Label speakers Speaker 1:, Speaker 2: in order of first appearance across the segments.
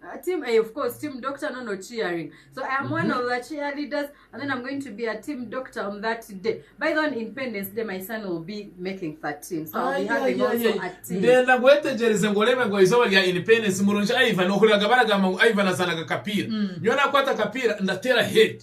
Speaker 1: Uh, team A, of course,
Speaker 2: team doctor, no, no cheering. So I am one of the cheerleaders, and then I'm going to be a team doctor on that day. By the way, on Independence Day, my son will be making 13, so I'll be having also a team. ndenda ngu wetegereze
Speaker 1: ngu orebe ngu eizooba rya independence murungi ivan ohuriraga baragamba ngu ivan azaanaga akapiira nyowe nakwata akapiira ndateera head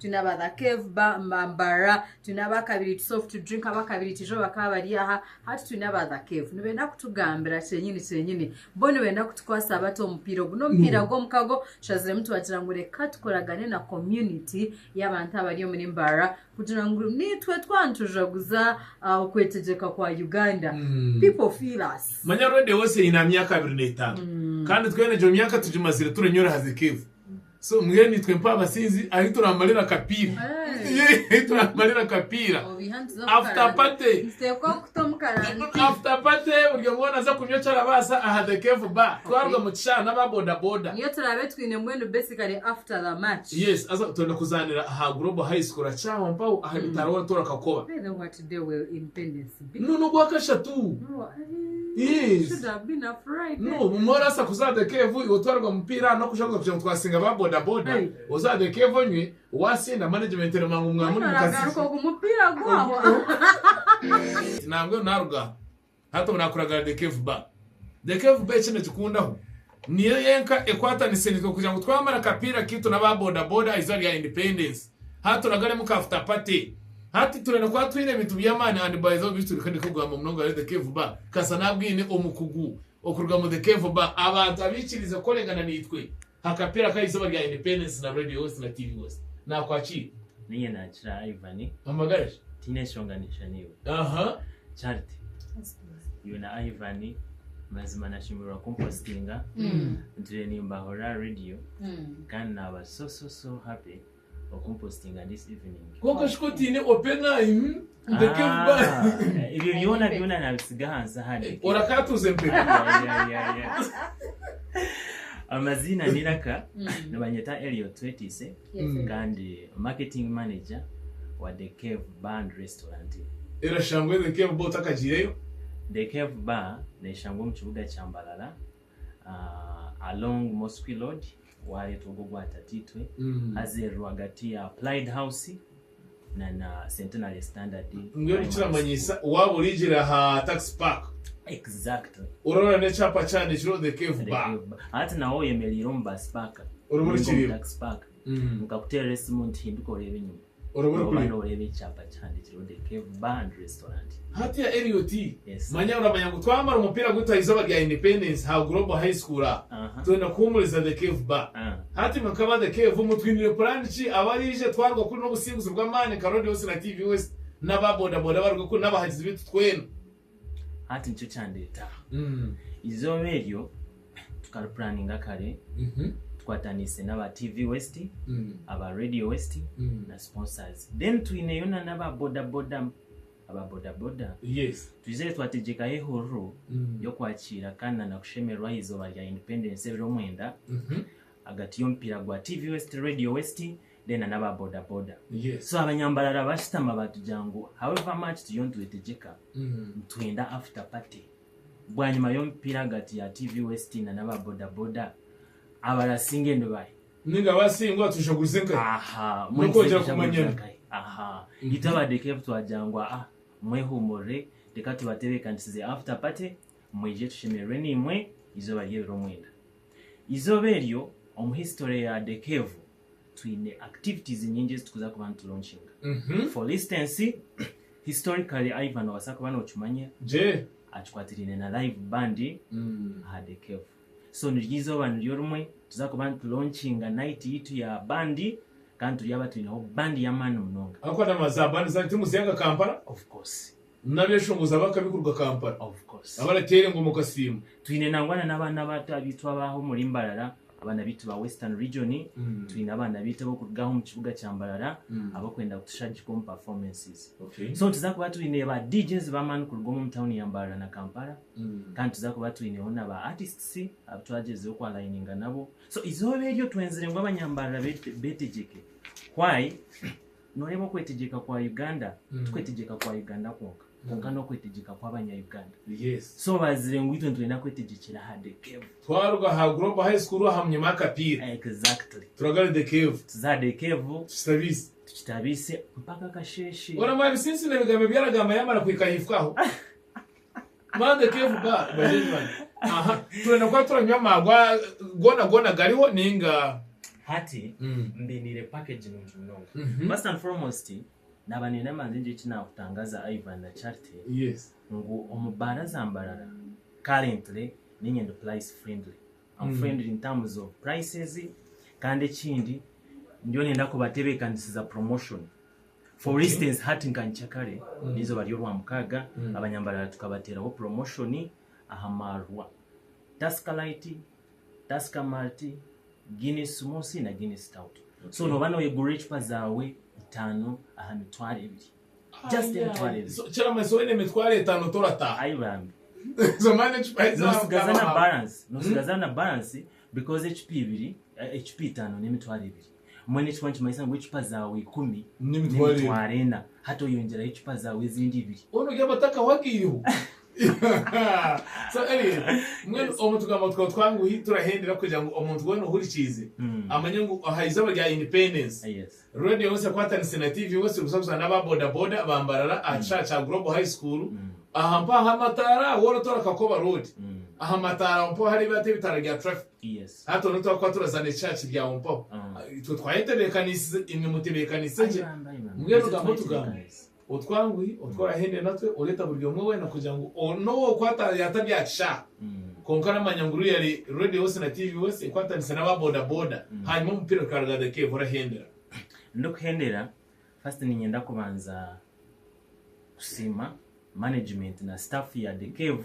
Speaker 2: twine aba the cave ba ma- mbarra twine abakabiri tu soft drink abakabiri tijo bakaba bari aha hati twine aba the cave nibenda kutugambira kyenyini kyenyini bo nibenda kutukwasa bata omupiira ogu n'omupiira gw'omukago tushaziremu tubagira ngu reka tukoragane na community y'abantu abari omuri mbarra kugira ngu nitwe twaba nitujaguza ah, okwetegyeka kwa uganda Mm. people feel us manya rwende wose aine aha
Speaker 1: myaka abiri n'etaano kandi twena egyo myaka tugimazire turenyora aha zikevu So mbwenu itwe mpabasinzi ahi turamarira kapiira ahi turamarira kapiira after party after party buri omwe weena aza kunywa ekyarabaasa aha the cave bar twaruga mu kishaara n'aba boda boda niyo turaabe twine
Speaker 2: mbwenu basically after the match yes aza twenda
Speaker 1: kuzaanira aha global high school akyaho mpaho aha bitaraho tora kakoba by the what day will
Speaker 2: independence Nunu ogwa kashatu.
Speaker 1: Yes.
Speaker 2: No, bumwe orasa kuza
Speaker 1: the cave iwe otwarwa mupiira ano kuja kuza kugira ngu twasinga ba boda boda. Oza the cave onywe wasinda management ero mangu mwamuri mukasisi. Nangwe naruga hati obu nakuragara the cave bar. The cave bar eki nikikundaho. Niyo yenka ekwatanise nitwe kugira ngu twamara akapiira kaitu n'aba bodaboda aha izooba rya Independence. Hati turagaremu ka futa pate. Hati turenda kuba twine ebintu by'amaani and by the way beitu reka ndeke kugamba munonga ahari The Cave Bar kasita naba bwine omukugu okuruga mu The Cave Bar abantu abaikiriize kukoregana naitwe ha kapiira ka izooba rya Independence na Radio West na TV West. Nakwakiire. Niinye nakira
Speaker 3: Ivan. Amagara ki? Tiine
Speaker 1: nshonga ninsha
Speaker 3: naiwe. Aha. Charity. iwe na Ivan mazima nashemererwa kumpositinga ntire nimbahurira aha radio kandi naba so so so happy okumpositinga this evening kwonka shika otiine
Speaker 1: open eye hmm? ndeke mba Ah, ebyo byona byona
Speaker 3: nabisiga ahansi ahari orakatuuze empeta
Speaker 1: Yeah, yeah, yeah.
Speaker 3: amazina niraka nibanyeta eliot twetiise Kandi marketing manager wa The Cave Bar and Restaurant. Erashangwe
Speaker 1: The Cave Bar otakagiireyo? The Cave
Speaker 3: Bar neshangwa omu kibuga kya Mbarara along Mosqui Road wareetwa ogwo ogwa tataitwe haza eri rwagati ya Applied House na na Centenary Standard. Mbwenu kiramanyisa
Speaker 1: waaba oriigira aha taxi park. Exactly.
Speaker 3: Orora n'ekyapa
Speaker 1: kihandikirweho the cave bar. The cave bar. Hati nawe oyemereire
Speaker 3: omu bus park. Oraba orikiriba. Taxi
Speaker 1: park.
Speaker 3: Mm. Nkakuteerera esimu nti hinduka oreebe enyima. Oraba orikuriba. Oraba nooreeba
Speaker 1: ekyapa
Speaker 3: kihandikirweho the cave bar and restaurant. Hati ya Elliot,
Speaker 1: manya oramanya ngu twamara omupiira gwaitu aha izooba rya Independence ha Global High School a, twenda kuhuumuriza The Cave ba. Hati nka ba The Cave, omu twiniire puraani ki abaraije twaruga kuri n'obusinguzi bw'amaani nka Radio West na TV West n'aba bodaboda abaruga kuri n'abahagizi baitu twena. Hati
Speaker 3: nikyo kyandeeta aha izooba eryo. tukari puraninga kare tukwataniise n'aba TV West, aba Radio West na sponsors. Then twineyo na n'aba bodaboda aba bodaboda twizire
Speaker 1: twategyekaho
Speaker 3: ehururu y'okwakiira kandi na nakushemererwa aha izooba rya Independence ebiro omwenda ahagati y'omupiira gwa TV West, Radio West then na n'aba bodaboda. So abanyambarara bashutama batugira ngu however much turiyo nitwetegyeka nitwenda after party. Bwanyima y'omupiira ahagati ya TV West na n'aba bodaboda, abaraatsi nge ni bahi? Ninga
Speaker 1: abaatsi ngu atushaguze nkahi? Aha, N'okwongyera
Speaker 3: kumanyana.
Speaker 1: Aha,
Speaker 3: itwe aba The Cave twagira ngu aa, mwehuumurire, reka tubatebeekanisize After Party, mwije tushemererwe naimwe eizooba ry'ebiro mwenda. Eizooba eryo omu history ya The Cave twine activities nyingi ezi tukuza kuba nitulonchinga. For instance, historically Ivan nobaasa kuba nokimanya
Speaker 1: akikwatiraine na
Speaker 3: live band aha The Cave. So niryo eizooba niryo rimwe tuza kuba nitulonchinga night yaitu ya band kandi turyaba twineho band y'amaani munonga.
Speaker 1: Of course.
Speaker 3: N'abeshongozi ab'akabi
Speaker 1: kuruga Kampala abarateera
Speaker 3: engoma okasiima.
Speaker 1: Twine nangwa na n'abaana
Speaker 3: bato abaitu ab'aha omuri Mbarara, abaana baitu ba Western Region. Twine abaana baitu ab'okuruga aha omu kibuga kya Mbarara abarikwenda kutushagika omu performances. So nituza kuba twine ba DJs b'amaani kuruga omu town ya Mbarara na Kampala. Kandi nituza kuba twineho na ba artists abu twagyezeho ku aligninga nabo. So eizooba eryo twenzire ngu abanya Mbarara betegyeke. Why? Noreeba okwetegyeka kwa Uganda tikwetegyeka kwa Uganda kwonka kwonka nokwetegyeka kwabanya Uganda so
Speaker 1: bazire ngu itwe
Speaker 3: nitwenda kwetegyekera aha the cave. Twaruga aha Global
Speaker 1: High School aha munyama akapiira Exactly. turaga
Speaker 3: aha the cave
Speaker 1: Tuze aha the cave
Speaker 3: tukitabiise. tukitabiise
Speaker 1: mpaka
Speaker 3: kasheshe. Oramanya bisinsi nebigambo
Speaker 1: ebyaragamba yamara kuhika ahaifo aho. Mande Keefu Ba bagyenyi bangye aha turenda kuba turanywa amaarwa goona goona gariho ninga. Hati
Speaker 3: Mm. mbiniire package nungi munonga. Mhm. First and foremost naba nenda manze ngire eki nakutangaza Ivan na Charity Yes. ngu
Speaker 1: omu baara
Speaker 3: za Mbarara currently ninye ndi price friendly. I'm Mm. friendly in terms of prices kandi ekindi ndiyo nenda kubatebeekanisiza promotion. For instance hati nka Nkyakare n'eizooba ry'orwamukaaga abanyambarara tukabateeraho promotion aha maarwa Tusker Light, Tusker Malt, Guinness Smoothie na Guinness Stout. So nooba noyegurira ecupa zaawe itaano aha mitwaro ebiri. Just emitwaro ebiri. So kiramanyisa oine
Speaker 1: emitwaro etaano torataaha. Ayi bambi.
Speaker 3: So mani
Speaker 1: ecupa ezi zaawe Noosigaza na mukama. balance.
Speaker 3: Noosigaza na balance because ecupa ibiri, ecupa itaano n'emitwaro ebiri. Mbwenu ekikuba nikimanyisa ngu ecupa zaawe ikumi n'emitwaro ena, hati oyongyeraho ecupa zaawe ezindi ibiri. Mbwenu ogire amata akahwagaireho.
Speaker 1: So Elliot, mbwenu omu tugambo twawe twanguhi turahendera kugira ngu omuntu weena ohurikiize amanye ngu aha izooba rya Independence, Radio West
Speaker 3: ekwatanise
Speaker 1: na TV West kuzaguza n'aba bodaboda ba Mbarara aha kishaaha kya Global High School aha mpaho amataara, woorotoora Kakoba Road, aha mataara aho mpaho hareebire hati ebitaara bya traffic. Hati twena twakuba
Speaker 3: turazaana
Speaker 1: ekicaaki bya ho mpaho. Itwe twayetebeekaniisize, imwe mutebeekaniise gye. Mbwenu otugambo tugambe, otwanguhi, otworahendire natwe, oreeta buri omwe weena kugira ngu n'ou okwata yaatabyakishaaha. Kwonka oramanya ngu ruya ari Radio West na TV West ekwatanise n'aba boda boda, hanyuma omupiira gukaraga the cave, orahendera. Ndikuhendera,
Speaker 3: First niinyenda kubanza kusiima management na staff ya The Cave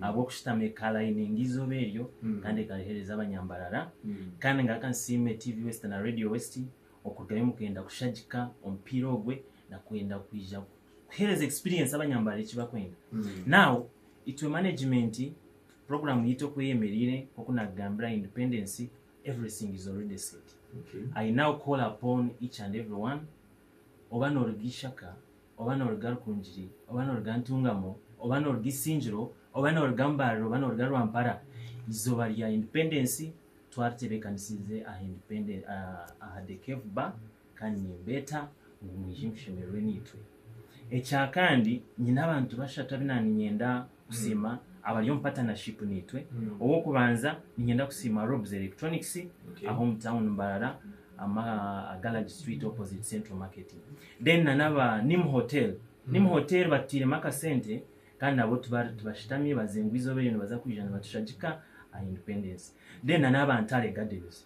Speaker 3: ahabw'okushutama ekalayininga eizooba eryo kandi ekariheereza abanyambarara. Kandi ngaruka nsiime TV West na Radio West okurugayo omu kwenda kushagika omupiira ogwe na kwenda kwija kuheereza experience abanyambarara eki barikwenda. Now, itwe management, puroguraamu yaitu oku eyemereire, nk'oku naakugambira, independence, Everything is already set I now call upon each and everyone oba noruga ishaka oba noruga rukungiri oba noruga ntungamo oba noruga isingiro oba noruga mbarara oba noruga rwampara izooba rya independence twaritebekanisize aha independence aha the cave bar Kandi nimbeeta ngu mwije mushemererwe naitwe. Ekya kandi, nyine abantu bashatu abu na ninyenda kusiima abari omu patanashipu naitwe. Ow'okubanza ninyenda kusiima Robs Electronics ah'omu tauni Mbarara ama Galagi Street opposite Central Market. Then na n'aba Nim Hotel. Nim Hotel batutairemu akasente kandi nabo tibari tibashitami bazengwa eizoba eryo nibaza kwija nibatushagika aha Independence. Then na n'aba Ntare Gardens.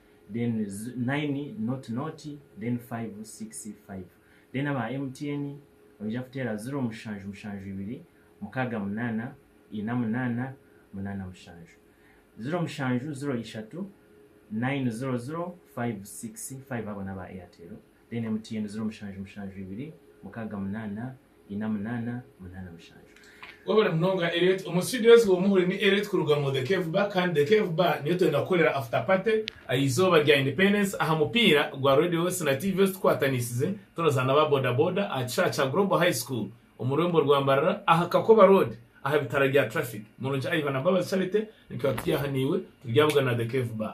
Speaker 3: then nayini noti noti then fayivu sikisi fayivu then aba MTN noija kuteera ziro mushanju mushanju ibiri mukaaga munaana ina munaana munaana mushanju ziro mushanju ziro ishatu nayini ziro ziro fayivu sikisi fayivu abo naba Airtel then MTN ziro mushanju mushanju ibiri mukaaga munaana ina munana munana mushanju.
Speaker 1: Webale munonga Elliot. Omu studio ezi womwe ohuri ni Elliot kuruga omu The Cave Bar kandi The Cave Bar niyo twenda kukorera after party aha izooba rya Independence aha mupiira gwa Radio West na TV West tukwatanisize turazaana aba Boda Boda aha kishaaha kya Global High School omu rurembo rwa Mbarara aha Kakoba Road aha bitara rya Traffic. Murungi Ivan na Mbabazi Charity nitwaba turi aha naiwe turi ahabugana na The Cave Bar.